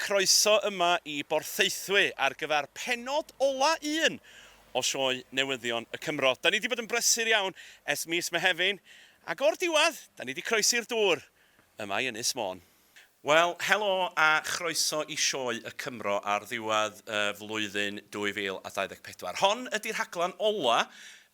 Croeso yma i Borthaethwy ar gyfer pennod ola un o sioe Newyddion y Cymro. Da ni di bod yn brysur iawn ers mis Mehefin ac o'r diwadd da ni di croesi'r dŵr yma i Ynys Môn. Wel, helo a chroeso i sioe y Cymro ar ddiwedd y flwyddyn 2024. Hon ydi rhaglen ola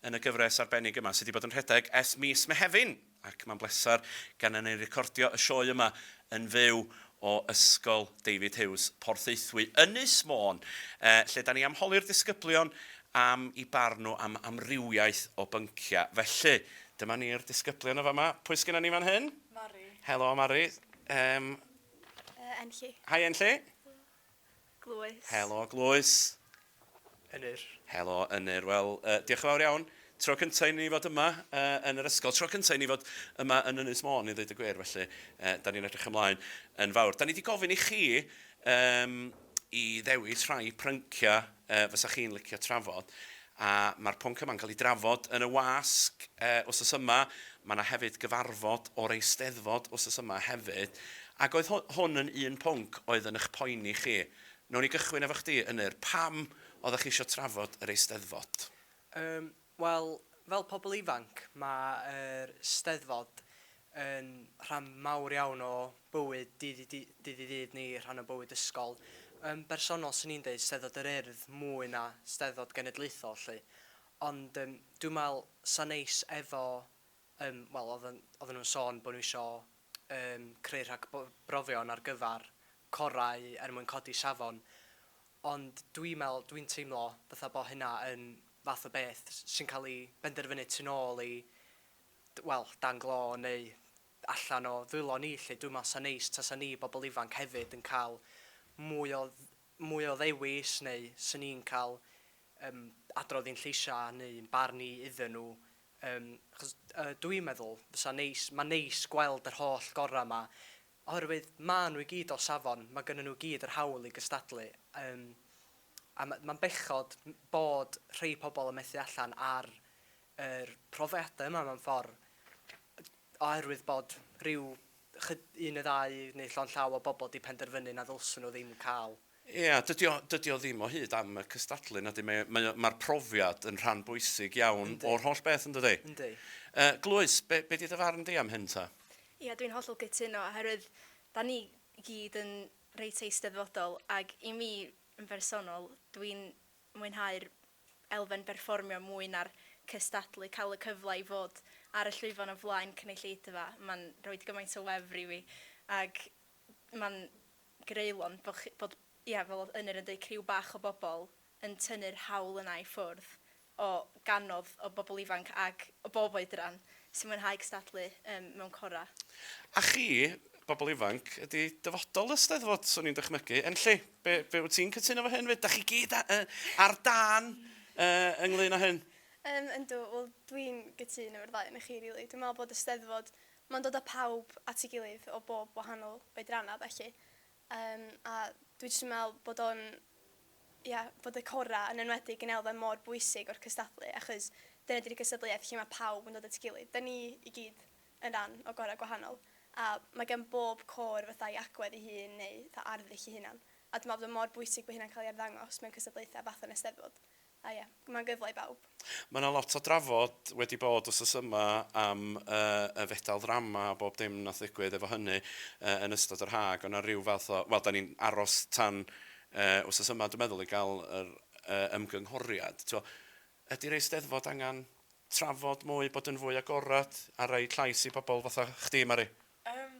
yn y gyfres arbennig yma sy di bod yn rhedeg ers mis Mehefin. Ac mae'n bleser gennym ni recordio y sioe yma yn fyw o Ysgol David Hughes, Porthaethwy, Ynys Môn, lle da ni am holi'r disgyblion am i barn nhw am amrywiaeth o bynciau. Felly, dyma ni'r disgyblion yn fama. Pwy sgynnon ni fan hyn? Mari. Helo, Mari. Yym... Enlli. Hi, Enlli. Helo. Glywys. Helo, Glywys. Ynyr. Helo, Ynyr. Wel, uh, diolch yn fawr iawn. Tro cyntaf i ni fod yma uh, yn yr ysgol. Tro cyntaf i ni fod yma yn Ynys Môn, i ddweud y gwir. Felly, uh, da ni'n edrych ymlaen yn fawr. Da ni wedi gofyn i chi um, i ddewis rhai prynciau uh, fysa chi'n licio trafod. A mae'r pwnc yma'n cael ei drafod yn y wasg wsos yma. Mae 'na hefyd gyfarfod o'r Eisteddfod wsos yma hefyd. Ac oedd hwn yn un pwnc oedd yn eich poeni chi. Wnawn ni gychwyn efo chdi, Ynyr. Pam oeddech chi eisiau trafod yr Eisteddfod? Yym, wel, fel pobl ifanc, mae'r Steddfod yn rhan mawr iawn o bywyd dydd i dydd i ddydd ni, rhan o bywyd ysgol. Yn bersonol, swn i'n deud Steddfod yr Urdd mwy na Steddfod Genedlaethol 'lly. Ond yym dwi'n me'wl 'sa neis efo yym wel o'dd yn oddan nhw'n sôn bo' nhw isio yym creu rhag bo- brofion ar gyfar corau er mwyn codi safon ond dwi'n me'wl dwi'n teimlo fatha bo' hynna yn fath o beth sy'n ca'l 'i benderfynu tu nôl i wel, dan glo neu allan o ddwylo ni 'lly. Dwi'n meddwl 'sa'n neis tasa ni bobl ifanc hefyd yn cael mwy o mwy o ddewis neu 'swn i'n cael yym adrodd i'n lleisiau neu ein barn ni iddyn nhw yym achos yy dwi'n meddwl fysa'n neis, ma'n neis gweld yr holl gorau 'ma oherwydd maen nhw i gyd o safon, mae gennyn nhw i gyd yr hawl i gystadlu yym a ma' ma'n bechod bod rhei pobl yn methu allan ar yr profiadau yma mewn ffordd, oherwydd bod rhyw un neu ddau neu llond llaw o bobl wedi penderfynu na ddylswn nhw ddim cael. Ie, dydy o, dydy o ddim o hyd am y cystadlu, nadi? Mae, mae, mae'r profiad yn rhan bwysig iawn Yndi. o'r holl beth, yn dydy? Yndi. Uh, Glwys, be, be di dy farn di am hyn ta? Ie, dwi'n hollol gytuno, oherwydd da ni gyd yn reit eisteddfodol, ac i mi yn bersonol, dwi'n mwynhau'r elfen berfformio mwy na'r cystadlu, cael y cyfle i fod ar y llwyfan o flaen cynulleidfa, mae'n rhoi gymaint o wefr i fi, ac mae'n greulon bod chi, bod, ia, fel oedd Ynyr yn deud, criw bach o bobl yn tynnu'r haul yna i ffwrdd o gannoedd o bobl ifanc ac o bob oedran sy'n mwynhau cystadlu ym mewn corau. A chi, bobl ifanc, ydi dyfodol y Steddfod, swn i'n dychmygu, Enlli? Be, be wyt ti'n cytuno fo hyn? Ydych chi gyd ar dan ynglyn â hyn? Um, yndw, wel dwi'n gytun efo'r ddau yn chi, rili. Really. Dwi'n meddwl bod y steddfod, mae'n dod â pawb at ei gilydd o bob wahanol oedrannau, felly. Um, a dwi jyst yn meddwl bod o'n, ia, bod y cora yn enwedig yn elfen mor bwysig o'r cystadlu, achos dyna di'r gystadleuaeth lle mae pawb yn dod at ei gilydd. Da ni i gyd yn rhan o gorau gwahanol, a mae gan bob côr fatha ei agwedd ei hun neu fatha arddull ei hunan, a dwi'n meddwl bod o mor bwysig bod hynna'n cael ei arddangos mewn cystadlaethau fatha yn Eisteddfod, a ie, mae'n gyfle i bawb. Mae yna lot o drafod wedi bod wsos yma am y fedal ddrama a bob dim wnaeth ddigwydd efo hynny yn ystod yr haf, ac oedd yna ryw fath o, wel, dan ni'n aros tan wsos yma dwi'n meddwl i gael yr ymgynghoriad. Tibod, Ydi'r Eisteddfod angan trafod mwy, bod yn fwy agored a roid llais i bobl fatha chdi Mari? Yym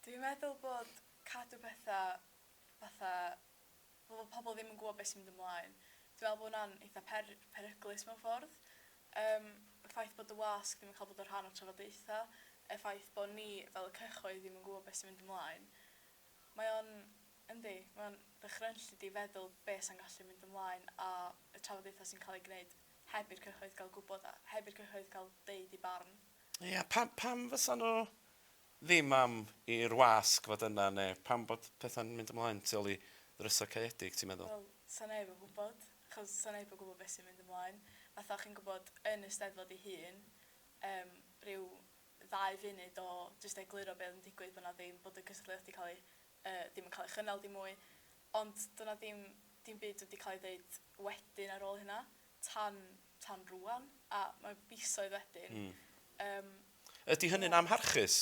dwi'n meddwl bod cadw petha fatha fel bod pobl ddim yn gwbod be' sy'n mynd ymlaen dwi'n meddwl bo' wnna'n eitha per- peryglus mewn ffordd. Yym y ffaith bod y wasg ddim yn ca'l bod yn rhan o'r trafodaetha, y ffaith bo' ni fel y cyhoedd ddim yn gwbod be' sy'n mynd ymlaen mae o'n Yndi, mae'n ddychrynllyd i feddwl be' sa'n gallu mynd ymlaen a y trafodaethau sy'n cael eu gwneud heb i'r cyhoedd gael gwybod a heb i'r cyhoedd cael deud eu barn. Ia, pam, pam fysa nhw ddim am i'r wasg fod yna neu pam bod pethau'n mynd ymlaen tu ôl i ddrysau caeedig, ti'n meddwl? Wel, 'sa neb yn gwybod, achos 'sa neb yn gwybod beth sy'n mynd ymlaen. Fatha, chi'n gwybod, yn y Steddfod ei hun, yym, ryw ddau funud o jyst egluro be' oedd yn digwydd, bod 'na ddim, bod y cystadleuaeth 'di cael ei yy ddim yn cael ei chynnal dim mwy. Ond doedd 'na ddim dim byd wedi cael ei ddeud wedyn ar ôl hynna tan tan rŵan, a mae misoedd wedyn. Mm. Yym. Ydy hynny'n yeah. amharchus?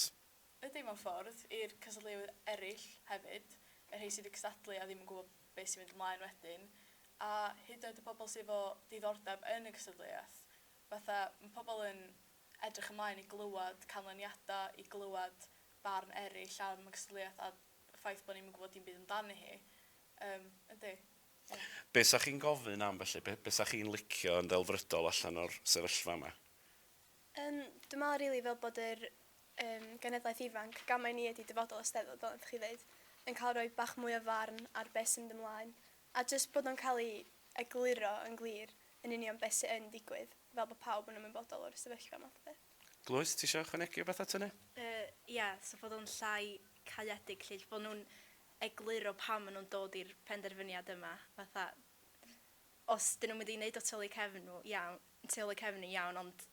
Ydy mewn ffordd, i'r cystadleuwyr eraill hefyd, y rhai sydd wedi cystadlu a ddim yn gwybod beth sy'n mynd ymlaen wedyn, a hyd yn oed y pobl sydd efo diddordeb yn y cystadleuaeth. Fatha, mae pobl yn edrych ymlaen i glywed canlyniadau, i glywed barn eraill am y cystadleuaeth a y ffaith bod ni'm yn gwybod dim byd amdani hi. Yym, yndi. Ie. Be' 'sa chi'n gofyn am felly? Be' be' 'sa chi'n licio yn ddelfrydol allan o'r sefyllfa 'ma? Yym, dwi me'wl rili fel bod yr yym genedlaeth ifanc, gan mai ni ydi dyfodol y Steddfod fel nathoch chi ddeud, yn ca'l rhoi bach mwy o farn ar be' sy'n mynd ymlaen, a jyst bod o'n ca'l 'i egluro yn glir yn union be' sy yn digwydd, fel bo' pawb yn ymwybodol o'r sefyllfa math o beth. Glywys, ti isio ychwanegu rhywbeth at hynny? Yy, ia, so fod o'n llai caeedig 'lly, bo' nhw'n egluro pam ma' nhw'n dod i'r penderfyniad yma, fatha, os 'dyn nhw'n mynd i neud o tu ôl eu cefn nhw, iawn, tu ôl eu cefn nhw, iawn, ond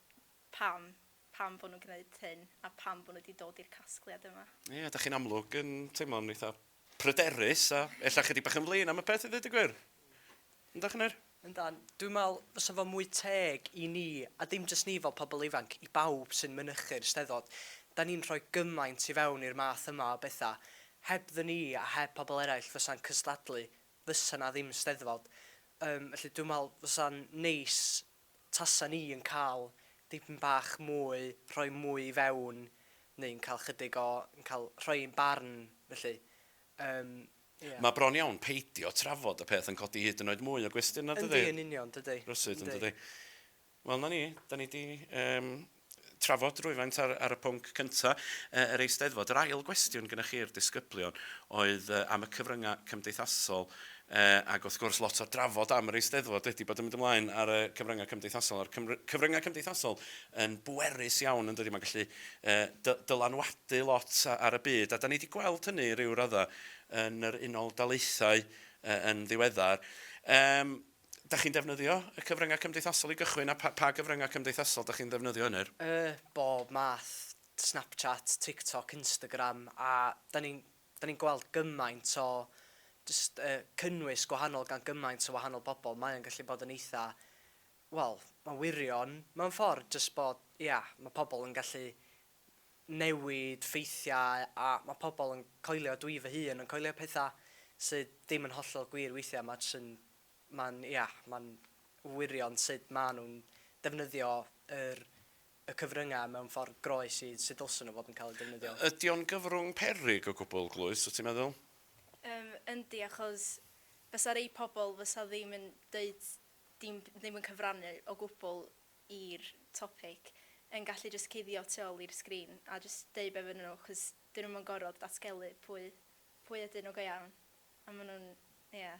pam, pam bo' nhw'n gneud hyn, a pam bo' nhw 'di dod i'r casgliad yma? Ia, 'dach chi'n amlwg yn teimlo'n eitha pryderus a ella chydig bach yn flin am y peth i ddweud y gwir. Ynddo, Chynwyr? Yndan. Dwi'n meddwl fysa fo mwy teg i ni, a dim jyst ni fel pobl ifanc, i bawb sy'n mynychu'r Steddfod, da ni'n rhoi gymaint i fewn i'r math yma o bethau. Hebddyn ni a heb pobl eraill fysa'n cystadlu, fysa 'na ddim Steddfod. Yym, felly dwi'n meddwl fysa'n neis Tasen ni yn cael dipyn bach mwy, rhoi mwy i fewn, neu'n cael chydig o, yn cael rhoi ein barn, felly. Yym, ie. Mae bron iawn peidio trafod y peth yn codi hyd yn oed mwy o gwestiynau, dydi? Yndi, yn union, dydi. Rywsut, yn dydi? Wel, 'na ni. Dan ni 'di, yym, trafod rywfaint ar, ar y pwnc cynta, uh, yr Eisteddfod. Yr ail gwestiwn gyda chi'r disgyblion oedd uh, am y cyfryngau cymdeithasol Uh, ac wrth gwrs, lot o'r drafod am yr Eisteddfod wedi bod yn mynd ymlaen ar y cyfryngau cymdeithasol. A'r cyfryngau cymdeithasol yn bwerus iawn, yn dydy, mae'n gallu uh, dylanwadu lot ar y byd. A da ni wedi gweld hynny rhyw raddau yn yr unol daleithau uh, yn ddiweddar. Um, dach chi'n defnyddio y cyfryngau cymdeithasol i gychwyn a pa, pa gyfryngau cymdeithasol dach chi'n ddefnyddio yn yr? Y, bob math, Snapchat, TikTok, Instagram a da ni'n da ni'n gweld gymaint o jyst uh, cynnwys gwahanol gan gymaint o wahanol bobl. Mae o'n gallu bod yn eitha, wel, mae'n wirion mewn ffordd, jyst bod, ia, mae pobl yn gallu newid ffeithiau a mae pobl yn coelio, dwi fy hun yn coelio pethau sydd ddim yn hollol gwir weithiau, mae jyst yn, mae'n, ia, mae'n wirion sut maen nhw'n defnyddio yr, y cyfryngau mewn ffordd groes i sut ddylsyn nhw fod yn cael eu defnyddio. Ydy o'n gyfrwng peryg o gwbl, Glwys, wyt ti'n meddwl? Yym, yndi, achos fysa rhai pobl fysa ddim yn deud dim, ddim yn cyfrannu o gwbl i'r topic yn gallu jyst cuddio tu ôl i'r sgrin a jyst deud be fynnon nhw cos dyn nhw'm yn gorod datgelu pwy pwy ydyn nhw go iawn a ma' nhw'n ia.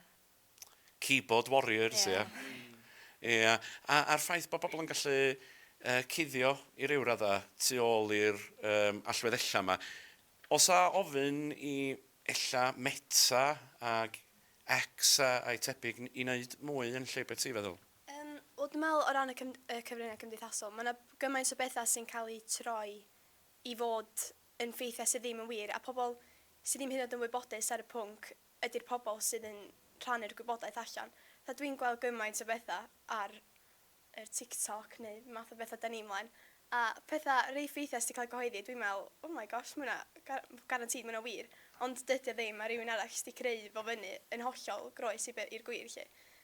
Keyboard warriors ia? Ia. Ia a a'r ffaith bo' bobl yn gallu yy cuddio i ryw radda tu ôl i'r yym allwedd ella 'ma. O's 'a ofyn i ella Meta ag X a a'i tebyg i neud mwy yn lle be' ti feddwl? Yym, wel dwi'n meddwl o ran y cym- y cyfryngau cymdeithasol, mae 'na gymaint o bethau sy'n cael eu troi i fod yn ffeithiau sydd ddim yn wir, a pobl sydd ddim hyd yn oed yn wybodus ar y pwnc ydy'r pobl sydd yn rhannu'r gwybodaeth allan. Fatha dwi'n gweld gymaint o bethau ar yr TikTok neu math o bethau 'da ni mlaen, a pethau reit ffeithiau sydd 'di cael eu cyhoeddi, dwi'n meddwl, oh my gosh, mae hwnna ga- guaranteed mae hwnna wir, ond dydy o ddim, mae rhywun arall jyst 'di creu fo fyny yn hollol groes i be- i'r gwir 'lly.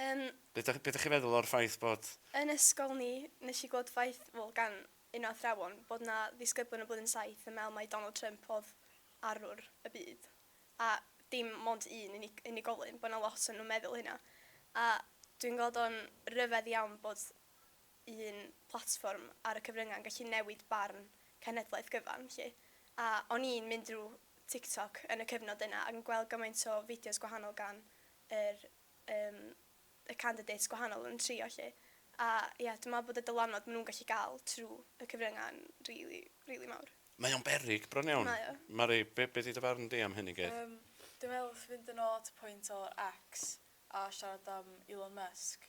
Yym. Be da, be da chi'n meddwl o'r ffaith bod... Yn ysgol ni, nes i glywed ffaith, wel gan un o athrawon, bod na ddisgyblion yn blwyddyn saith yn meddwl mai Donald Trump odd arwr y byd. A dim mond un unig- unigolyn, bo na lot o nhw'n meddwl hynna. A dwi'n gweld o'n ryfedd iawn bod un platfform ar y cyfrynga'n gallu newid barn cenhedlaeth gyfan 'lly. A o'n i'n mynd drw Tiktok yn y cyfnod yna ac yn gweld gymaint o fideos gwahanol gan yr yym y candidates gwahanol yn trio 'lly. A ia, dwi me'wl bod y dylanwad ma' nhw'n gallu ga'l trw y cyfrynga'n rili, rili mawr. Mae o'n beryg bron iawn. Mae o. Mari, be' be' 'di dy farn di am hyn i gyd? Yym, dwi me'wl wrth fynd yn ôl at y pwynt o X a siarad am Elon Musk,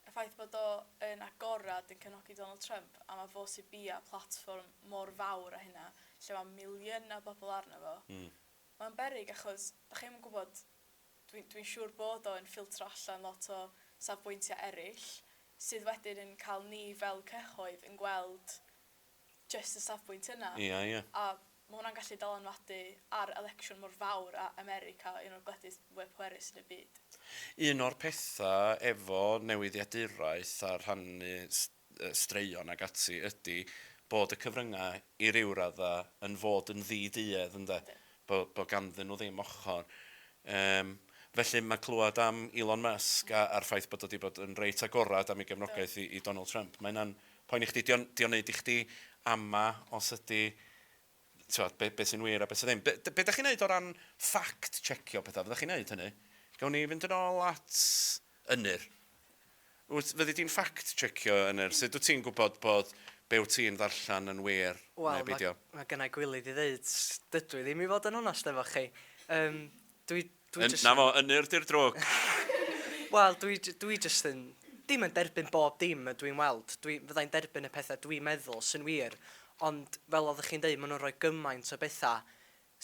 y ffaith bod o yn agorad yn cefnogi Donald Trump a ma' fo sy bia platfform mor fawr a hynna lle ma' miliyna bobol arno fo. Hmm. Ma'n beryg achos 'dach chi 'im yn gwbod Dwi'n dwi'n siŵr bod o yn ffiltro allan lot o safbwyntiau eraill, sydd wedyn yn cael ni fel cyhoedd yn gweld jyst y safbwynt yna. Ia, ia. A ma' hwnna'n gallu dylanwadu ar elecsiwn mor fawr â America, un o'r gwledydd fwya pwerus yn y byd. Un o'r petha efo newyddiaduraeth a rhannu straeon ac ati ydi bod y cyfryngau i ryw raddau yn fod yn ddi-duedd ynde? Bo' bo' ganddyn nhw ddim ochr. Yym felly mae clywed am Elon Musk a a'r ffaith bod o 'di bod yn reit agored am ei gefnogaeth i i Donald Trump, mae hynna'n poeni chdi? 'Di o'n 'di o'n neud i chdi ama' os ydi tibod, be, be sy'n wir a be sy'n ddim. Be, be da chi'n neud o ran ffact checio pethau? Fydda chi'n neud hynny? Gawn ni fynd yn ôl at Ynyr. Wyt, fyddi di'n ffact checio Ynyr? Sut wyt ti'n gwybod bod be wyt ti'n ddarllen yn wir well, neu beidio? Wel, mae ma gynnau gwylydd i ddeud, dydw i ddim i fod yn onest efo chi. Um, Dwi, dwi Yn, jyst... na fo, ynyr di'r drwg! Wel, dwi, dwi jyst yn, dim yn derbyn bob dim ydw i'n weld, dwi, fydda i'n derbyn y pethau dwi'n meddwl sy'n wir, ond fel oeddech chi'n deud, maen nhw'n rhoi gymaint o bethau,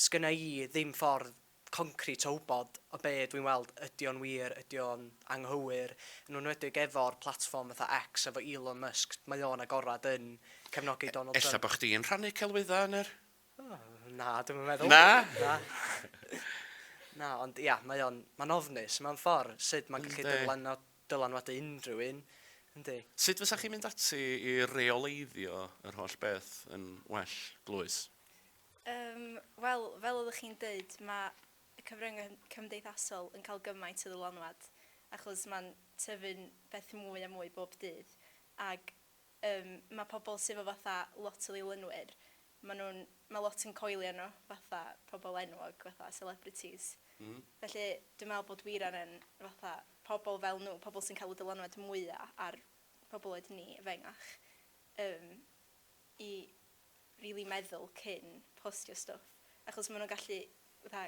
sgynna i ddim ffordd concrit o wybod o be dw i'n weld, ydy o'n wir, ydy o'n anghywir, yn enwedig efo'r platfform fatha X, efo Elon Musk, mae o'n agored yn cefnogi Donald Trump. Ella bod chdi'n rhannu celwyddau, ynyr? Na, dwi'm yn meddwl. Na? Na. Na, ond ia, mae o'n ma ofnus mewn ffordd sut mae'n gallu dyflano, dylanwadu unrhyw un. Yndi. Sut fysa chi'n mynd ati i reoleiddio yr holl beth yn well, Glwys? Um, Wel, fel oeddech chi'n dweud, mae y cyfryngau cymdeithasol yn cael gymaint o ddylanwad achos mae'n tyfu'n beth mwy a mwy bob dydd ac Yym ma pobl sy 'fo fatha lot o ddilynwyr ma nhw'n ma lot yn coelio nhw fatha pobl enwog fatha celebrities felly dwi'n meddwl bod Wira yn fatha pobl fel nhw pobl sy'n cael y dylanwad mwya ar pobl oed ni efengach yym i rili meddwl cyn postio stwff achos ma nhw'n gallu fatha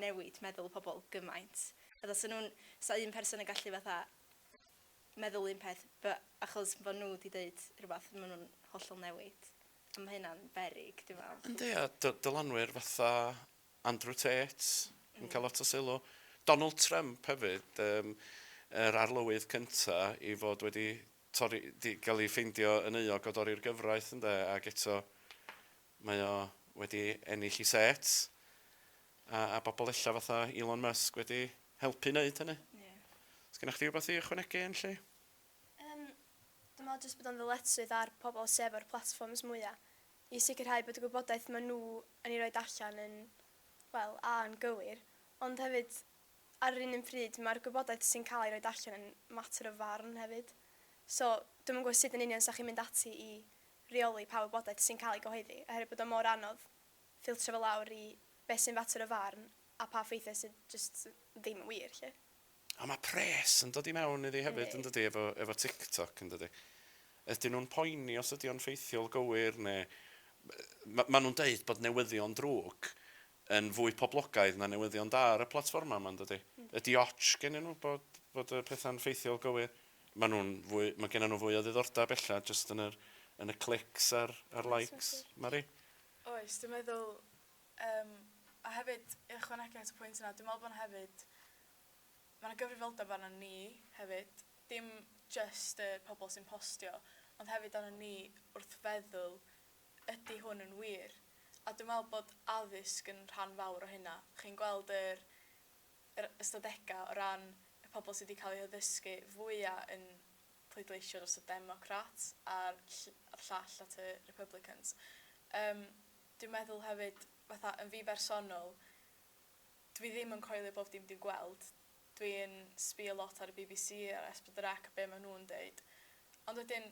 newid meddwl pobl gymaint fatha 'sa nhw'n 'sa un person yn gallu fatha meddwl un peth bu- achos fo' nhw 'di deud rhywbeth ma' nhw'n hollol newid a ma' hynna'n beryg dwi me'wl. Yndi a dy- dylanwyr fatha Andrew Tate yn ca'l lot o sylw. Donald Trump hefyd yym yr arlywydd cynta i fod wedi torri 'di ga'l 'i ffeindio yn euog o dorri'r gyfraith ynde ag eto Mae o wedi ennill ei set, a a bobl ella fatha Elon Musk wedi helpu neud hynny. Ie. Sgennoch chdi wbath i ychwanegu Enlli? Yym, dwi me'wl jyst bod o'n ddyletswydd ar pobl sy efo'r platfforms mwya', i sicrhau bod y gwybodaeth ma' nw yn 'i roid allan yn, wel, a yn gywir, ond hefyd, ar yr un un pryd, ma'r gwybodaeth sy'n ca'l ei roid allan yn mater o farn hefyd. So, dwi'm yn gwbo sud yn union 'sa chi'n mynd ati i rheoli pa wybodaeth sy'n cael ei gyhoeddi oherwydd bod o mor anodd ffiltro fo lawr i beth sy'n fater o farn a pa ffeithiau sydd jyst ddim yn wir 'lly. A ma' pres yn dod i mewn iddi hefyd... Yndi. ...yndydi efo efo TikTok yndydi? Ydyn nhw'n poeni os ydi o'n ffeithiol gywir neu... M- ma' nhw'n deud bod newyddion drwg yn fwy poblogaidd na newyddion da ar y platfformau yma, yn dydi? Ydi ots gennyn nhw bod, bod y pethau'n ffeithiol gywir? Maen nhw'n fwy, mae gennyn nhw fwy o ddiddordeb ella jyst yn yr, yn y clics a'r, a'r likes, Mari? Oes, dwi'n meddwl, um, a hefyd, i ychwanegu at y pwynt yna, dwi'n meddwl bod hefyd, mae yna gyfrifoldeb arno ni hefyd, dim just y pobl sy'n postio, ond hefyd arno ni wrth feddwl Ydy hwn yn wir? A dwi'n meddwl bod addysg yn rhan fawr o hynna. Chi'n gweld yr yr ystadegau o ran y pobl sydd wedi cael eu haddysgu fwya yn pleidleisio dros y Democrats a'r ll- a'r llall at y Republicans. Yym dwi'n meddwl hefyd fatha yn fi bersonol dwi ddim yn coelio bob dim dwi'n gweld. Dwi'n sbio lot ar y bbc a'r S4C a be' ma' nhw'n deud. Ond wedyn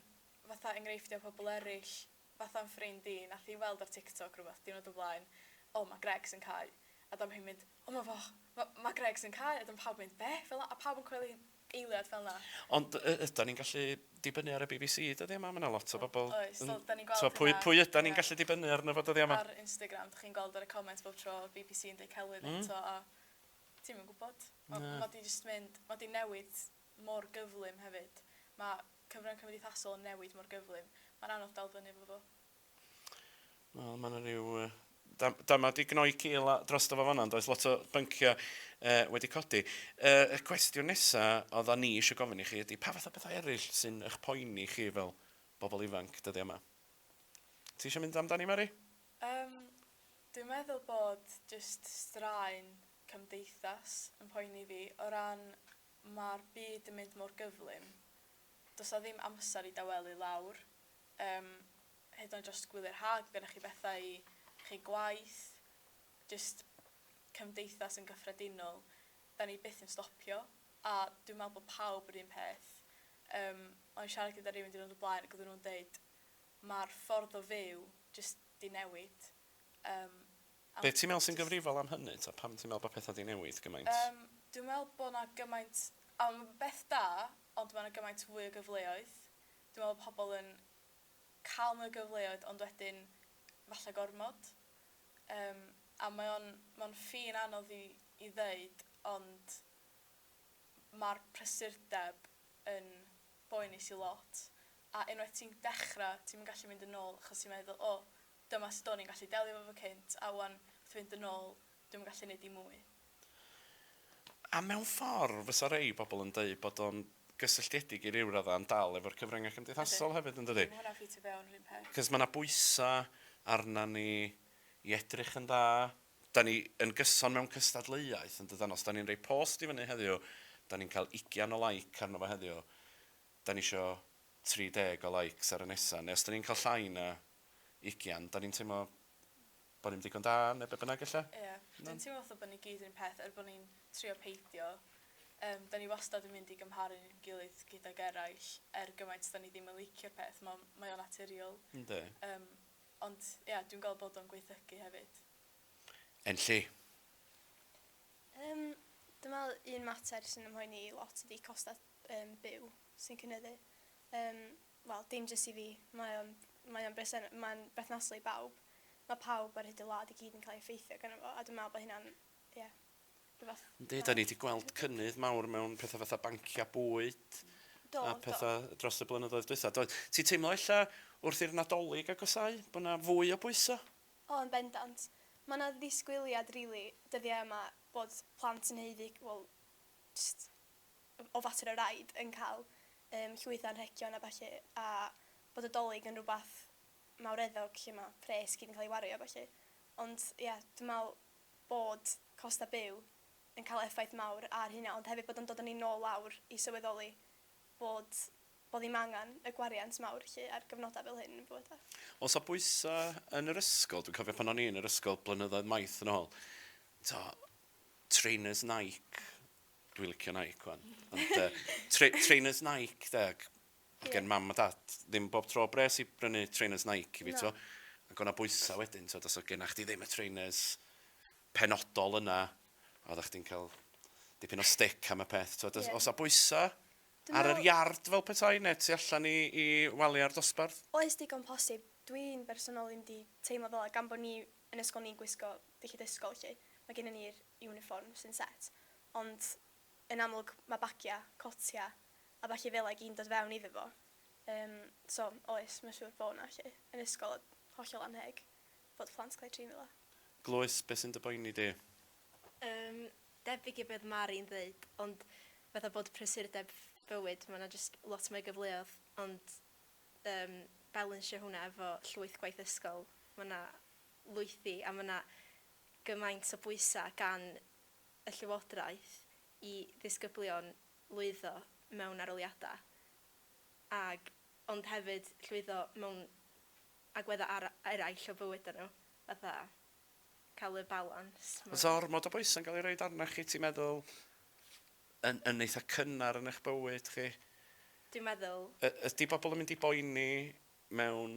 fatha enghreifftiau pobl eraill, fatha'n ffrind i, nath hi weld ar TikTok rwbeth diwrnod o flaen, O, ma' Greg sy'n cau. A dyma hi'n mynd, O ma' foch, ma', ma' Greg sy'n cau. A dyma pawb yn mynd, Be? Fel 'na, a pawb yn coelio hi'n eiliad fel 'na. Ond y- ydan ni'n gallu dibynnu ar y BBC dyddia' 'ma? Ma' 'na lot o bobl yn... Oes, fel 'dan ni'n gweld hynna. T'mo' pwy, pwy ydan ni'n gallu dibynnu arno fo dyddia' 'ma? Ar Instagram, 'dych chi'n gweld ar y comments bob tro, BBC yn deud celwydd eto a ti'm yn gwbod. Ma', ma' 'di jyst mynd, ma' 'di newid mor gyflym hefyd. Ma' cyfrwng cymdeithasol yn newid mor gyflym, mae'n anodd dal fyny efo fo. Wel, mae yna rhyw... Dam, dam wedi gnoi cil drosto fo fanna, does? Lot o bynciau uh, wedi codi. Uh, y cwestiwn nesaf oedda ni eisiau gofyn i chi ydy, pa fath o bethau eraill sy'n eich poeni chi fel bobl ifanc dyddiau yma? Ti eisiau mynd amdani, Mary? Um, dwi'n meddwl bod just straen cymdeithas yn poeni fi o ran Mae'r byd yn mynd mor gyflym. Does 'na ddim amser i dawelu lawr. Yym, hyd yn oed jyst gwyliau'r haf, ma' gennych chi bethau i chi, gwaith, jyst cymdeithas yn gyffredinol. Dan ni byth yn stopio, a dwi'n meddwl bod pawb yr un peth. Yym, o'n i'n siarad gyda rywun diwrnod o blaen ac oedden nhw'n deud, 'Ma'r ffordd o fyw jyst 'di newid. Yym. Be ti'n meddwl sy'n gyfrifol am hynny ta? Pam ti'n meddwl bod pethau 'di newid gymaint? Yym, dwi'n meddwl bod 'na gymaint... A ma' fe'n beth da, ond ma' 'na gymaint fwy o gyfleoedd. Dwi'n meddwl bod pobl yn cael mwy o gyfleoedd ond wedyn falle gormod. Yym, a mae o'n mae o'n ffin anodd i i ddeud ond ma'r prysurdeb yn boenus i lot a unwaith ti'n dechrau ti'm yn gallu mynd yn ôl achos ti'n meddwl 'o Dyma sut o'n i'n gallu delio efo fo cynt, a 'wan, wrth fynd yn ôl, dwi'm yn gallu neud dim mwy. A mewn ffordd, fysa rei pobl yn deud bod o'n gysylltiedig i ryw radda' yn dal efo'r cyfryngau cymdeithasol hefyd, yn dydi? Yndi, ma' hwnna'n ffitio fewn yr un peth. 'C'os ma' 'na bwysa' arna ni i edrych yn dda, 'dan ni yn gyson mewn cystadleuaeth, yn dydan? Os 'dan ni'n roi post i fyny heddiw, 'dan ni'n cael ugian o like arno fo heddiw, 'dan ni isio 30 o likes ar y nesa', neu os 'dan ni'n cael llai na ugian, 'dan ni'n teimlo bo' ni'm digon da ne' be' bynnag ella? Ia. Dwi'n teimlo fatha bo' ni gyd 'r un peth er bo' ni'n trio peidio. Yym 'dan ni wastad yn mynd i gymharu ni'n gilydd gydag eraill er gymaint 'dan ni ddim yn licio'r peth ma' o'n mae o naturiol. Yndi. Yym ond ia dwi'n gweld bod o'n gwaethygu hefyd. Enlli. Yym dwi me'wl un mater sy'n 'y mhoeni i lot ydi costa yym byw sy'n cynyddu. Yym Wel, dim jyst i fi. Mae o'n, mae o'n berthyna-, mae'n berthnasol i bawb. Mae pawb ar hyd y wlad i gyd yn cael ei effeithio ganddo fo, a dwi'n meddwl bod hynna'n, ie, rhywbeth... Yndi, dan ni 'di gweld cynnydd mawr mewn pethau fatha banciau bwyd... Do, do. ...a pethau dros y blynyddoedd dwytha, doedd? Ti'n teimlo ella wrth i'r Nadolig agosáu bod 'na fwy o bwyso? O, yn bendant. Mae 'na ddisgwyliad rili dyddiau yma bod plant yn haeddu, wel, jyst o fater o raid yn cael yym llwyth o anrhegion a ballu a bod y 'Dolig yn rhywbeth mawreddog lle mae pres gyd yn cael ei wario a ballu. Ond ia dwi'n meddwl bod costau byw yn cael effaith mawr ar hynna ond hefyd bod o'n dod â ni nôl lawr i sylweddoli bod bod ddim angen y gwariant mawr 'lly ar gyfnodau fel hyn yn bywyd a... Oes 'na bwysau yn yr ysgol? Dwi'n cofio pan o'n i yn yr ysgol blynyddoedd maith yn ôl, tibod, trainers Nike... Dwi'n licio Nike wan. Ond uh, tra trainers Nike, de, ac, ac yeah. mam a dad, ddim bob tro bres i brynu trainers Nike i fi, no. to. Ac o'na bwysau wedyn, to, os o genna chdi ddim y trainers penodol yna, oedd o'ch chdi'n cael dipyn o stick am y peth, to. Yeah. Os o bwysau, ar yr iard fel petai, neu ti allan i, i waliau'r dosbarth? Oes digon posib. Dwi'n bersonol ddim di teimlo fel gan bod ni yn ysgol ni'n gwisgo Felly dysgol 'lly. Mae gennym ni'r iwnifform sy'n set, ond yn amlwg mae bagiau, cotiau a ballu fela i gyd yn dod fewn iddo fo. Yym, so, oes, mae'n siŵr bod 'na 'lly. Yn ysgol oedd hollol annheg fod plant cael eu trin fela. Glywais, be sy'n dy boeni di? Yym, debyg i beth Mari'n ddeud, ond fatha bod prysurdeb bywyd, mae 'na jyst lot mwy o gyfleoedd, ond yym balansio hwnna efo llwyth gwaith ysgol, mae 'na lwythi a mae yna gymaint o bwysau gan y Llywodraeth i ddisgyblion lwyddo mewn arholiadau ac ond hefyd llwyddo mewn agweddau ar- eraill o bywydau nhw, fatha cael y balans. Mae... Oes ormod o bwysau'n cael ei roed arnoch chi, ti'n meddwl, yn yn eitha' cynnar yn eich bywyd chi? Dwi'n meddwl. Y- ydy pobl yn mynd i boeni mewn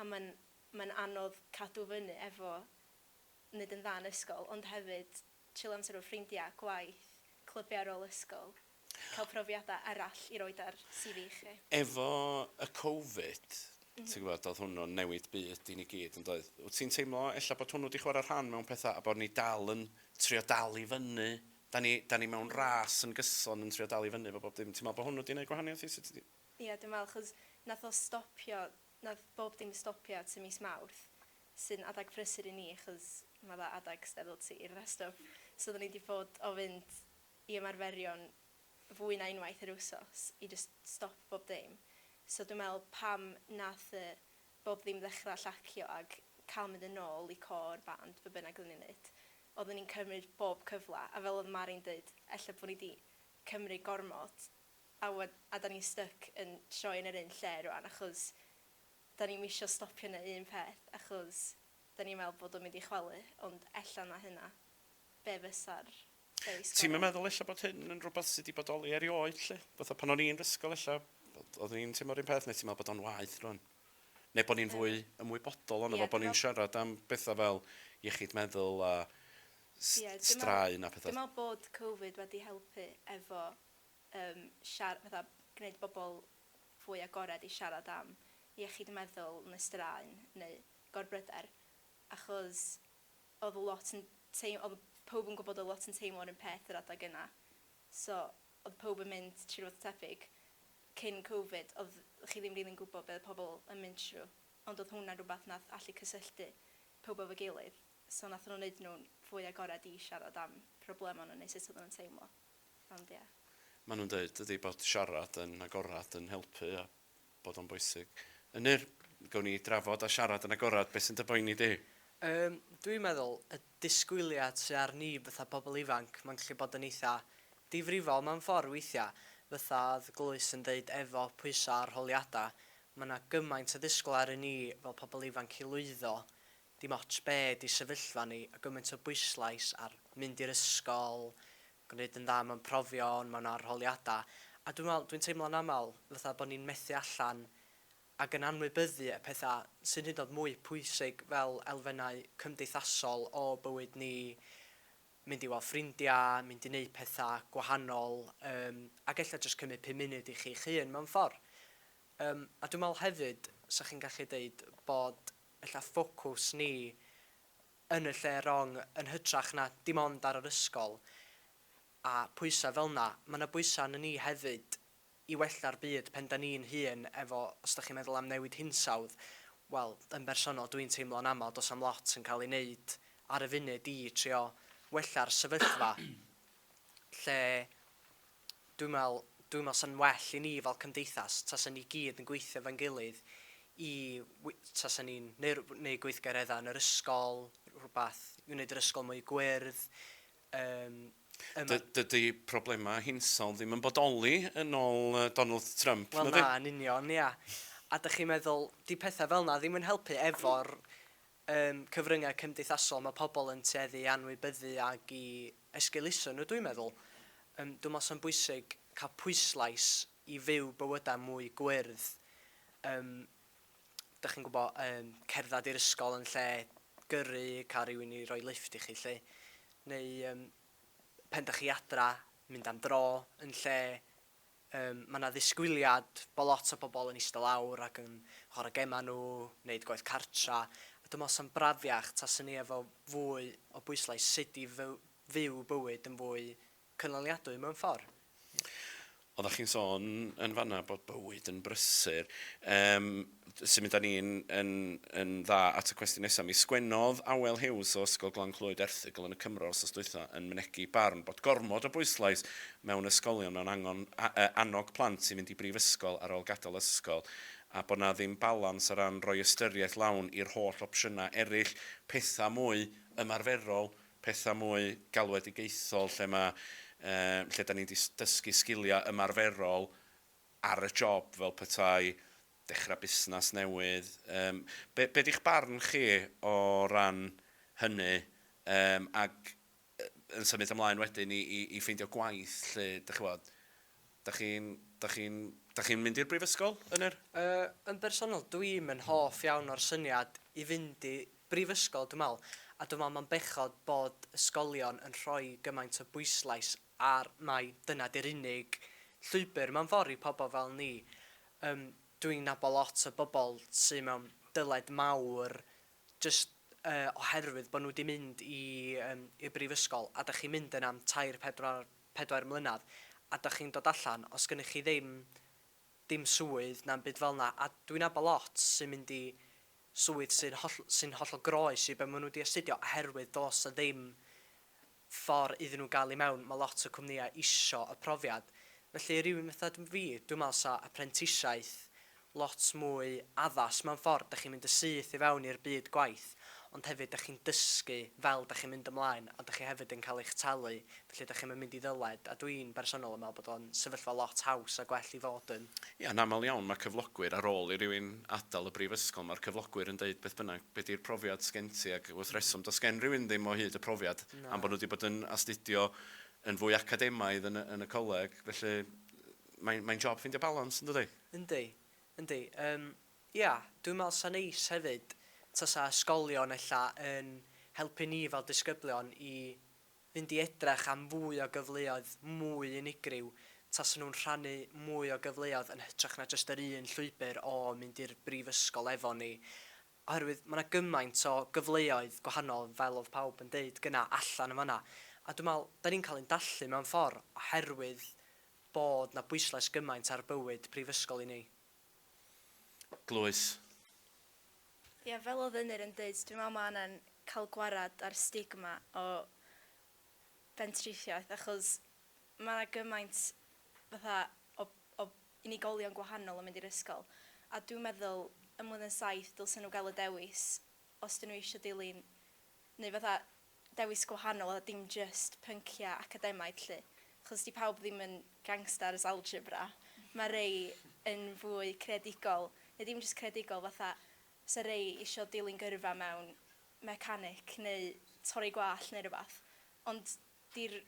a mae'n mae'n anodd cadw fyny efo neud yn dda yn ysgol ond hefyd chillo amser efo ffrindia, gwaith, clybiau ar ôl ysgol, cael profiadau arall i roid ar CV chi. Efo y covid ti'n gwybod oedd hwnnw'n newid byd i ni gyd yn doedd? Wyt ti'n teimlo ella bod hwnnw 'di chwarae rhan mewn pethau a bod ni dal yn trio dal i fyny, 'dan ni 'dan ni mewn ras yn gyson yn trio dal i fyny efo bob dim, ti'n meddwl bod hwnnw 'di neud gwahaniaeth i sut ti... Ie dwi'n meddwl achos wnaeth o stopio Nath bob dim stopio tŷ mis Mawrth sy'n adag prysur i ni achos ma dda adag steddle tir a stwff so odda ni di fod o fynd i ymarferion fwy na unwaith yr wsos i jyst stop bob dim so dwi me'l pam nath y bob ddim ddechra llacio ag ca'l mynd yn nôl i côr, band, be bynnag odda ni'n neud odda ni'n cymryd bob cyfla a fel odd Mari'n deud ella bo ni di cymryd gormod a ŵan a 'dan ni'n styc yn troi yn yr un lle rŵan achos 'dan ni'm isio stopio neu un peth achos 'dan ni'n meddwl bod o'n mynd i chwalu ond ella na hynna be' fysa'r lleill Ti'm yn gorau? meddwl ella bod hyn yn rwbath sy' 'di bodoli erioed 'lly? Fatha pan o'n i'n 'r ysgol ella o'dd o'dd ni'n teimlo'r un peth ne' ti'n me'wl bod o'n waeth rŵan? Ne' bo' ni'n fwy ymwybodol onno fo bo' ni'n siarad am betha fel iechyd meddwl a s- straen a petha? Dwi me'wl bod covid wedi helpu efo yym siar- fatha gwneud bobl fwy agored i siarad am iechyd y meddwl neu straen neu gorbryder achos oedd lot yn teim- oedd pawb yn gwybod oedd lot yn teimlo'r un peth yr adeg yna so oedd pawb yn mynd trwy rywbeth tebyg cyn covid oedd chi ddim rili'n gwybod be oedd pobl yn mynd trwy ond oedd hwnna'n rhywbeth nath allu cysylltu pawb efo'i gilydd so nathon nhw wneud nhw'n fwy agored i siarad am problemau nhw neu sut oedden nhw'n teimlo. Ond ia. Maen nhw'n deud dydy bod siarad yn agored yn helpu a bod o'n bwysig. Ynyr, gawn ni drafod a siarad yn agored beth sy'n dy boeni di? Yym, dwi'n meddwl, y disgwyliad sy ar ni fatha pobl ifanc, mae'n gallu bod yn eitha difrifol mewn ffordd weithiau. Fatha oedd Glwys yn deud efo pwysau a rholiadau, mae 'na gymaint o ddisgwyl aru ni fel pobl ifanc i lwyddo Dim ots be di sefyllfa ni, a gymaint o bwyslais ar mynd i'r ysgol, gwneud yn dda mewn profion, mewn arholiada, a dwi'n meddwl, dwi'n teimlo'n aml fatha bod ni'n methu allan ac yn anwybyddu y pethau sy'n hyd yn oed mwy pwysig fel elfennau cymdeithasol o bywyd ni, mynd i weld ffrindiau, mynd i wneud pethau gwahanol, yym, ac ella jyst cymryd pum munud i chi'ch hun mewn ffordd. Yym, a dwi'n meddwl hefyd, 'sa chi'n gallu deud bod ella ffocws ni yn y lle rong yn hytrach na dim ond ar yr ysgol a pwysa fel na, ma na bwysa arna ni hefyd i wella'r byd pen da ni'n hun efo os da chi'n meddwl am newid hinsawdd wel yn bersonol dwi'n teimlo'n amal dos am lot yn cael ei neud ar y funud i trio wella'r sefyllfa lle dwi'n meddwl, dwi'n meddwl 'sa'n well i ni fel cymdeithas tasa ni gyd yn gweithio efo'n gilydd i wi- tasa ni'n neu' rw- neu' gweithgaredda' yn yr ysgol, rhywbeth i wneud yr ysgol mwy gwyrdd, yym yym... Dy- dydi problemau hinsawdd ddim yn bodoli yn ôl yy Donald Trump, nadi? Wel na, yn union, ia. A 'dach chi'n meddwl, 'di petha' fel 'na ddim yn helpu efo'r Ym cyfryngau cymdeithasol mae pobl yn tueddu i anwybyddu ac i esgeuluso nhw dwi'n meddwl. Yym dwi'n meddwl sa'n bwysig cael pwyslais i fyw bywydau mwy gwyrdd. Yym dach chi'n gwybod, yym cerdded i'r ysgol yn lle gyrru, cael rhywun i roi lifft i chi 'lly. Neu yym pan dach chi adra, mynd am dro yn lle Yym, mae 'na ddisgwyliad bod lot o bobl yn ista lawr ac yn chwarae gemau nhw, wneud gwaith cartra, a dwi'n meddwl 'sa'n brafiach tasa ni efo fwy o bwyslais sut i fyw fyw bywyd yn fwy cynaliadwy mewn ffordd. Oeddach chi'n sôn yn fan'na bod bywyd yn brysur. Yym. symud â ni yn, yn, yn dda at y cwestiwn nesaf, mi sgwennodd Awel Hughes o Ysgol Glan Clwyd erthygl yn y Cymro wsos dwytha yn mynegi barn bod gormod o bwyslais mewn ysgolion mewn angon, a, a, annog plant i fynd i brifysgol ar ôl gadael ysgol a bod 'na ddim balans o ran rhoi ystyriaeth lawn i'r holl opsiynau eraill, pethau mwy ymarferol, pethau mwy galwedigaethol lle mae, yy, lle 'da ni'n dysgu sgiliau ymarferol ar y job fel petai dechrau busnes newydd. Yym, be, be di'ch barn chi o ran hynny? Yym, ac yn symud ymlaen wedyn i, i, i ffeindio gwaith 'lly, dych ch'mod, dych chi'n, dych chi'n, dych chi'n mynd i'r brifysgol yn yr... Yy, yn bersonol, dwi'm yn hoff iawn o'r syniad i fynd i brifysgol, dwi'n meddwl, a dwi'n meddwl mae'n bechod bod ysgolion yn rhoi gymaint o bwyslais a mai dyna 'di'r unig llwybr mewn ffordd i pobl fel ni. Yym, dwi'n nabod lot o bobl sy mewn dyled mawr jyst yy oherwydd bod nhw 'di mynd i yym i'r brifysgol a dych chi'n mynd yna am tair, pedwar, pedair mlynedd a dych chi'n dod allan, os gynnych chi ddim dim swydd na'm byd fel 'na, a dwi'n nabod lot sy'n mynd i swydd sy'n holl- sy'n hollol groes i be maen nhw 'di astudio oherwydd does 'na ddim ffor iddyn nhw gael i mewn, mae lot o cwmnïau isio y profiad. Felly rywun fatha fi, dwi'n meddwl 'sa apprentisiaeth lot mwy addas mewn ffordd, dach chi'n mynd yn syth i fewn i'r byd gwaith, ond hefyd dach chi'n dysgu fel dach chi'n mynd ymlaen, a dach chi hefyd yn cael eich talu, felly dach chi'm yn mynd i ddyled, a dwi'n bersonol yn meddwl bod o'n sefyllfa lot haws a gwell i fod yn. Ie, yn aml iawn mae cyflogwyr, ar ôl i rywun adael y brifysgol, mae'r cyflogwyr yn deud beth bynnag, be di'r profiad sgen ti ac wrth reswm does gen rywun ddim o hyd y profiad am bod nhw wedi bod yn astudio yn fwy academaidd yn y yn y coleg felly mae'n mae'n job ffeindio balans yn dydi? Yndi yndi yym ia dwi'n meddwl sa'n neis hefyd tasa ysgolion ella yn helpu ni fel disgyblion i fynd i edrych am fwy o gyfleoedd mwy unigryw tasen nhw'n rhannu mwy o gyfleoedd yn hytrach na jyst yr un llwybr o mynd i'r brifysgol efo ni oherwydd ma' 'na gymaint o gyfleoedd gwahanol fel oedd pawb yn deud gynna' allan yn fan'na a dwi'n meddwl 'dan ni'n cael ein dallu mewn ffor' oherwydd bod 'na bwyslais gymaint ar bywyd prifysgol i ni. Glywais. Ie, fel oedd Ynyr yn deud, dwi'n meddwl mae angen cael gwared â'r stigma o bentrisiaeth, achos mae 'na gymaint fatha o o unigolion gwahanol yn mynd i'r ysgol, a dwi'n meddwl ym mlwyddyn saith dylsen nhw gael y dewis os 'dyn nhw eisiau dilyn neu fatha dewis gwahanol a dim jyst pyncia academaidd 'lly, achos 'di pawb ddim yn gangsters algebra, ma' rei yn fwy creadigol, neu dim jyst creadigol fatha 'sa rei isio dilyn gyrfa mewn mecanic neu torri gwallt neu rwbath, ond 'di'r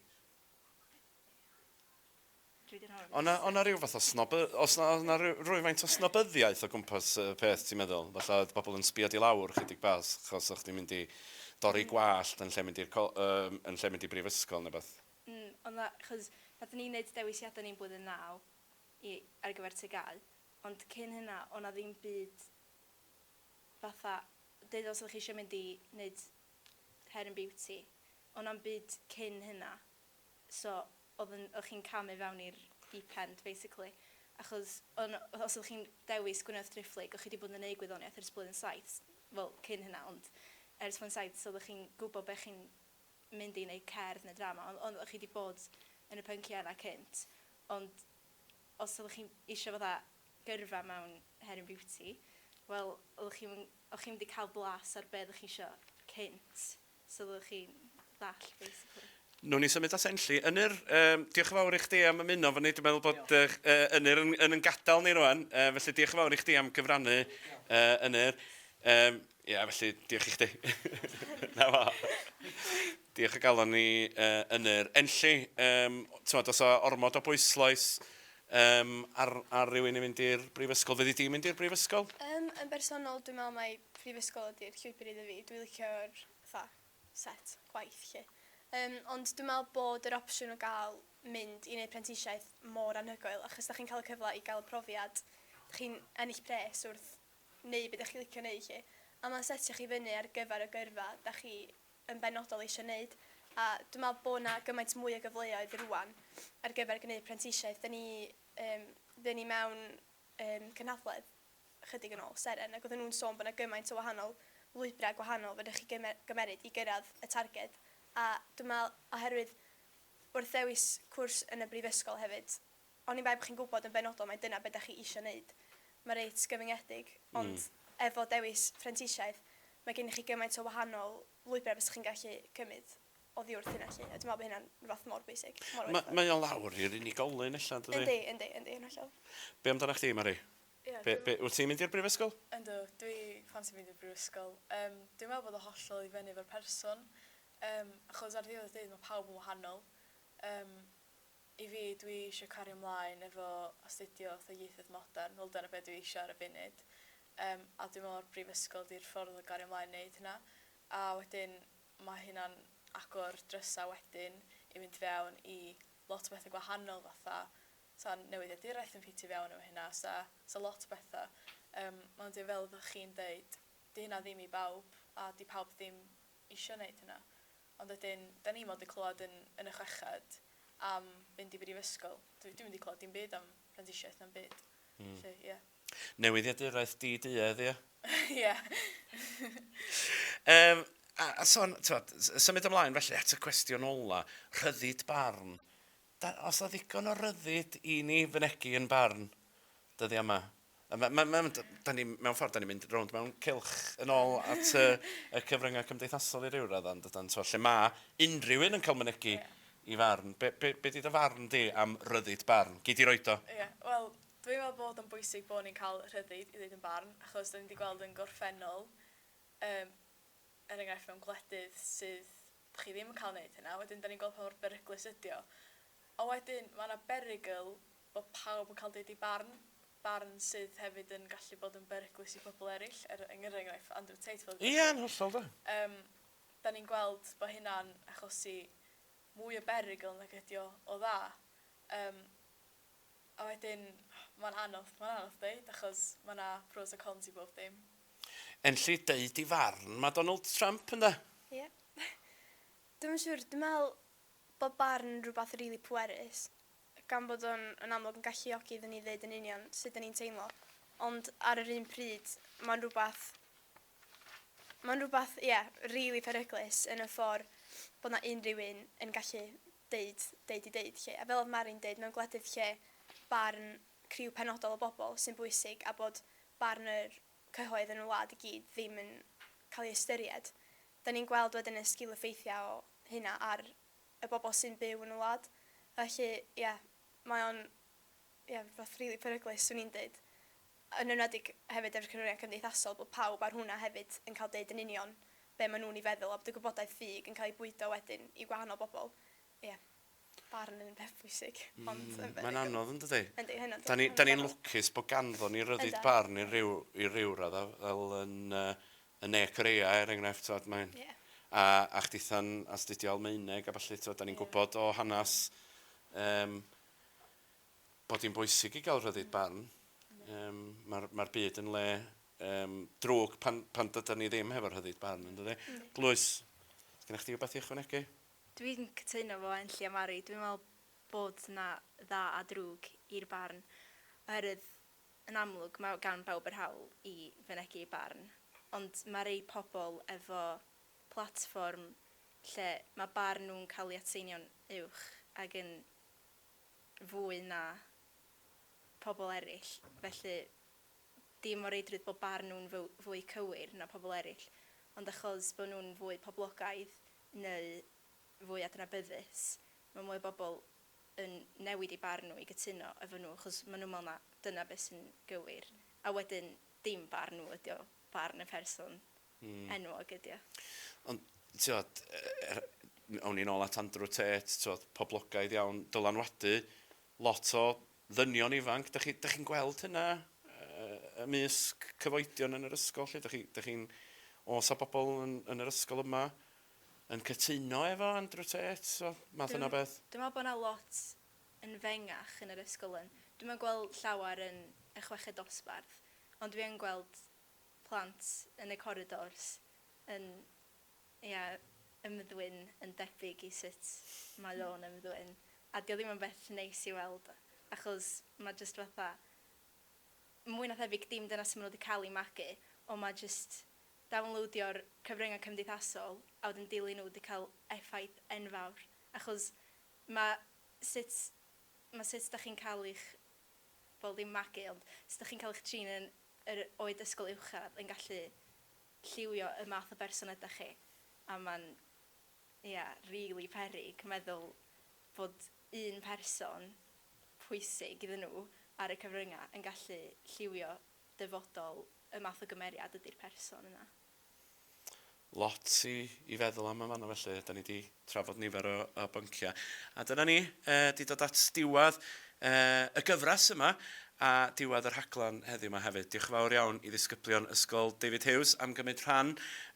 O' 'na o' 'na ryw fath o snoby- o's 'na odd 'na ry- rywfaint o snobyddiaeth o gwmpas y peth ti'n meddwl? Fatha oedd pobl yn sbio di lawr chydig bach achos o' chdi'n mynd i dorri gwallt yn lle mynd i'r co- yym yn lle mynd i brifysgol ne' wbath? Mm o' 'na 'chos nathon ni neud dewisiada ni'n blwyddyn naw i ar gyfer TGAU ond cyn hynna o' 'na ddim byd fatha deud os oddech chi isio mynd i neud hair and beauty o' 'na'm byd cyn hynna so oedd yn, oedd chi'n camu fewn i'r deep end basically achos o'n, os oeddech chi'n dewis Gwyneth Driphlyg o'ch chi wedi bod yn eu gwyddoniaeth ers blwyddyn saith, wel cyn hynna ond ers blwyddyn saith so oeddech chi'n gwybod be chi'n mynd i yn eu cerdd neu drama ond oedd chi wedi bod yn y pynciau yna cynt ond os oeddech chi'n eisiau fatha gyrfa mewn her yn beauty wel oeddech chi'm yn, o'ch chi'm wedi cael blas ar be oeddech chi eisiau cynt. so fyddwch chi'n ddall basically. Nw'n ni symud at Enlli. Ynyr, um, diolch yn fawr i chdi am ymuno fo ni. Dwi'n meddwl bod uh, Ynyr yn, yn, yn gadael ni rwan, uh, felly diolch yn fawr i chdi am gyfrannu uh, Ynyr. Um, Ie, yeah, felly, diolch i chdi. Na fo. diolch o galon ni uh, Ynyr. Enlli, um, tywed, os o ormod o bwysloes, Yym, ar, ar rywun i fynd i'r brifysgol? Fyddi di'n mynd i'r brifysgol? Yym, yn bersonol, dwi'n meddwl mai prifysgol ydy'r llwybr iddo fi. Dwi'n licio'r, fatha, set gwaith, 'lly. Yym, ond dwi'n meddwl bod yr opsiwn o gael mynd i wneud prentisiaeth mor anhygoel, achos dach chi'n cael y cyfle i gael y profiad, dach chi'n ennill pres wrth wneud be dach chi'n licio wneud, 'lly. A mae'n setio chi fyny ar gyfer y gyrfa dach chi yn benodol eisiau wneud, a dwi'n meddwl bod yna gymaint mwy o gyfleoedd rwan ar gyfer gwneud prentisiaeth. Dyn ni, um, dyn ni mewn um, cynhadledd chydig yn ôl, Seren, ac oedden nhw'n sôn bod yna gymaint o wahanol lwybrau gwahanol fydych chi gymer gymeryd i gyrraedd y targed, a dwi'n meddwl oherwydd wrth ddewis cwrs yn y brifysgol hefyd, Oni bai bod chi'n gwybod yn benodol mai dyna be da chi isio wneud, mae reit gyfyngedig, ond efo dewis phrentisiaeth, mae gennych chi gymaint o wahanol lwybrau fysa chi'n gallu cymryd oddiwrth hynna 'lly, a dwi'n meddwl bod hynna'n rywbeth mor bwysig, mor werthfawr. Mae o lawr i'r unigolyn ella, yn dydi? Yndi, yndi, yndi, yn hollol. Be amdanach chdi, Mari? Ie, dwi meddwl... Wyt ti'n mynd i'r brifysgol? Yndw, dwi fansi mynd i'r brifysgol. Yym, dwi'n meddwl bod o hollol i fyny efo'r person, yym, achos ar ddiwedd y dydd mae pawb yn wahanol, yym, I fi, dwi eisiau cario mlaen efo astudio fatha ieithoedd modern, wel dyna be dwi eisiau ar y funud, yym a dwi'n meddwl ma'r brifysgol 'di'r ffordd o gario mlaen neud hynna. A wedyn ma' hynna'n agor drysa wedyn i fynd fewn i lot o betha gwahanol fatha 'sa newyddiaduraeth yn ffitio fewn efo hynna 'sa 'sa lot o betha. Yym ond ie fel oddach chi'n deud 'di hynna ddim i bawb a 'di pawb ddim isio neud hynna. Ond wedyn, da ni mond yn clywed yn yn y chweched am fynd i brifysgol. Dwi dwi'm wedi clywed dim byd am prentisiaeth na'm byd. Hmm. Felly, ie. Newyddiaduraeth di-duedd, ie? Ie. Yym, a a sôn, t'mod, s- symud ymlaen felly at y cwestiwn ola, rhyddid barn. Dan, os 'na ddigon o ryddid i ni fynegi yn barn dyddiau yma. Mae, mae, mae, da ni, mewn ffordd, da ni'n mynd rownd mewn cylch yn ôl at y, y cyfryngau cymdeithasol i ryw raddau, yn dydan, so, lle mae unrhyw un yn cael mynegi yeah. i farn. Be, be, be di dy farn di am ryddid barn? Gei di roed o. Ie, yeah. wel, dwi'n meddwl bod o'n bwysig bod ni'n cael rhyddid i ddeud yn barn, achos da ni wedi gweld yn gorffennol, um, er enghraifft mewn gwledydd sydd Dych chi ddim yn cael neud hynna, wedyn dan ni'n gweld pa mor beryglus ydy o. Ond wedyn, mae yna berygl bod pawb yn cael deud eu barn, barn sydd hefyd yn gallu bod yn beryglus i bobl eraill, er enghraifft Andrew Tate fel Ie, yn hollol, do. Yym, dan ni'n gweld bod hynna'n achosi mwy o berygl nag ydy o o dda. Yym, a wedyn, mae'n anodd, mae'n anodd deud, achos mae yna pros a cons i bob dim. Yn lle deud ei farn, mae Donald Trump, ynde? Ie. Dwi'm yn siŵr, dwi'n meddwl bod barn yn rhywbeth rili pwerus, gan bod o'n yn amlwg yn galluogi iddyn ni ddeud yn union sut 'dyn ni'n teimlo, ond ar yr un pryd, mae'n rhywbeth... mae'n rhywbeth, ie, rili peryglus yn y ffordd bod 'na unrhyw un yn gallu deud, deud i deud 'lly. A fel oedd Mari'n deud, mewn gwledydd lle barn criw penodol o bobl sy'n bwysig a bod barn yr cyhoedd yn y wlad i gyd ddim yn cael ei ystyried. Da ni'n gweld wedyn y sgil-effeithiau o hynna ar y bobl sy'n byw yn y wlad. Felly, ie, mae o'n, ie, rhywbeth rili peryglus, swn i'n deud. Yn enwedig hefyd efo'r canlyniad cymdeithasol, bod pawb ar hwnna hefyd yn cael deud yn union be maen nhw'n ei feddwl a bod y gwybodaeth ffug yn cael ei bwydo wedyn i wahanol bobl. Ie. Barn yn beth pwysig. Mm. Ond yy yndi. Mae'n anodd yndydi? Yndi hynod yndi. 'Dan ni 'dan ni'n lwcus bo' ganddon ni ryddid... Yndan. ...barn i ryw i ryw radd a fel yn yy yn Ne Korea er enghraifft t'od mae'n... Ie. ...a a chditha'n astudio Almaeneg a ballu t'od 'dan ni'n... Ie. ...gwbod o hanas yym bod 'i'n bwysig i ga'l rhyddid barn. Yndi. Yym ma'r ma'r byd yn le yym drwg pan pan dydan ni ddim hefo rhyddid barn yndydi? Yndi. Glywis. Sgenna chdi wbath i ychwanegu? Dwi'n cytuno efo Enlli a Mari, dwi'n me'wl bod 'na dda a drwg i'r barn oherwydd yn amlwg ma' gan bawb yr hawl i fynegi eu barn ond ma' rei pobol efo platfform lle ma' barn nhw'n cael ei atseinio'n uwch ag yn fwy na pobol eraill felly dim o reidrwydd bod barn nhw'n fwy cywir na pobol eraill ond achos bod nhw'n fwy poblogaidd neu fwy adnabyddus, mae mwy o bobl yn newid eu barn nhw i gytuno efo nhw achos maen nhw'n meddwl na dyna beth sy'n gywir, a wedyn dim barn nhw ydy o, barn y person enwog ydy o. Ond, tibod, awn ni nôl at Andrew Tate, tibod, poblogaidd iawn, dylanwadu Lot o ddynion ifanc, dach chi, dach chi'n gweld hynna yy ymysg cyfoedion yn yr ysgol 'lly? Dach chi, dach chi'n, oes 'na bobl yn yn yr ysgol yma yn cytuno efo Andrew Tate? So, math yna o beth? Dwi'n meddwl bod 'na lot yn fengach yn yr ysgol yn. Dwi'm yn gweld llawer yn y chweched dosbarth, ond dwi yn gweld plant yn y corridors yn Ia, ymddwyn yn debyg i sut mae o'n ymddwyn, a 'di o ddim yn beth neis i weld, achos ma' jyst fatha, mwy na thebyg dim dyna sut ma' nhw 'di cael eu magu, ond ma' jyst downloadio'r cyfryngau cymdeithasol a wedyn dilyn nhw 'di cael effaith enfawr, achos ma' sut, ma' sut 'dach chi'n cael eich, wel ddim magu, ond sut 'dach chi'n cael eich trin yn yr oed ysgol uwchradd yn gallu lliwio y math o berson ydach chi a ma'n ia rili peryg meddwl fod un person pwysig iddyn nhw ar y cyfrynga yn gallu lliwio dyfodol y math o gymeriad ydi'r person yna. Lot i i feddwl am yn fanno felly, 'da ni 'di trafod nifer o o bynciau. A dyna ni, yy, 'di dod at diwedd, yy, y gyfres yma, a diwedd y rhaglen heddiw 'ma hefyd. Diolch yn fawr iawn i ddisgyblion Ysgol David Hughes am gymryd rhan,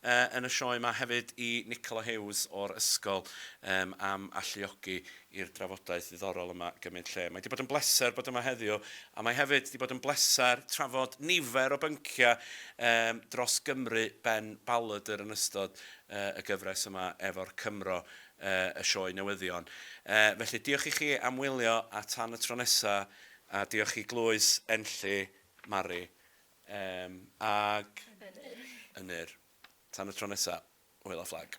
yy, yn y sioe 'ma, hefyd i Nicola Hughes o'r ysgol, yym, am alluogi i'r drafodaeth ddiddorol yma gymryd lle. Mae 'di bod yn bleser bod yma heddiw, a mae hefyd 'di bod yn bleser trafod nifer o bynciau, yym, dros Gymru ben Balladr yn ystod y gyfres yma efo'r Cymro, y sioe newyddion. Felly, diolch i chi am wylio a tan y tro nesa, a diolch i Glwys, Enlli, Mari, ag Ynyr. Tan y tro nesa, hwyl a fflag.